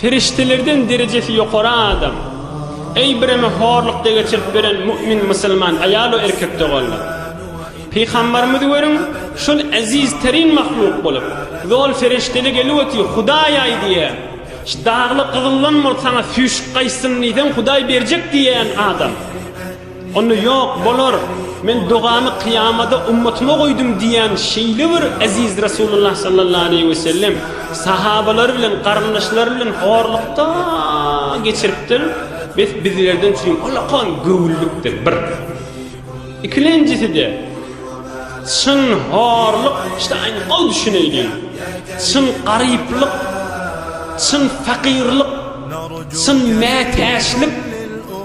Perişdelerden derejesi ýokary adam. Eý, bireme horlukda geçirip beren mu'min musulman aýal we erkek doganlar! Pygambarymyzy görüň, şol eziz terin mahluk bolup, zol perişdeli gelip otyr, Hudaý aýdýa, ş dagly gyzyldan bol saňa süýşüp gaýtsyn diýseň Hudaý berjek diýýän adam. Onda ýok, bolar, men dogamy kyýamada ummatyma goýdum diýýän şeýle bir eziz Resulullah sallallahu aleýhi we sellem sahabalary bilen, garyndaşlary bilen horlukda geçiripdir, bes bizlerden üçin ullakan göwünlikdir, bir. Ikilenjisi-de, çyn horluk, işte aýn gowy düşüneýliň, çyn garyplyk, çyn fakyrlyk, çyn mätäçlik,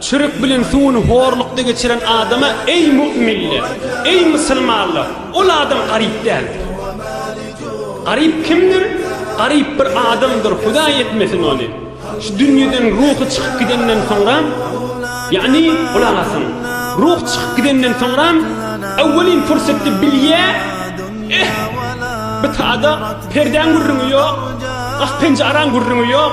Çörek bilen suwuny horlukda geçiren adama, Eý, müminler! Eý, musulmanlar! Ol adam garyp däldir. Garyp kimdir? Garyp bir adamdyr, Hudaý etmesin ony! Şu dünýeden ruhy çykyp gidenden soňra, ýagny, gulak asyň, ruh çykyp gidenden soňra, öwwelin pursatda bilýär, Eh, bu tada perdäň gürrüňi ýok, gah-penjaran gürrüňi ýok.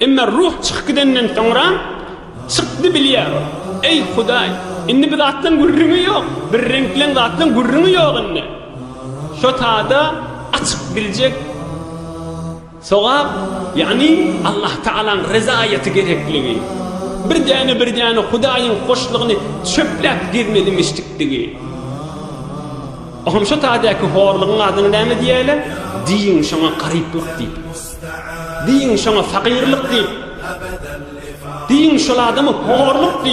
Emma ruh çykyp gidenden soňra çykdy bilýär ol. Eý, Hudaý, indi bi zatlaň gürrüňi ýok, bir reňkleň zatlaň gürrüňi ýok indi. Şo tada açyk biljek sogap, ýagny Allahtagalaň rezaýaty gerekligi, bir däne-bir däne Hudaýyň hoşlugyny çöpläp gezmelimişdikdigi. Oňam şo tadäki horlugyň adyna näme diýäýler? Diýiň şoňa garyplyk diýip. Diýiň şoňa fakyrlyk diýip. Diýiň şol adamy horluk diýip.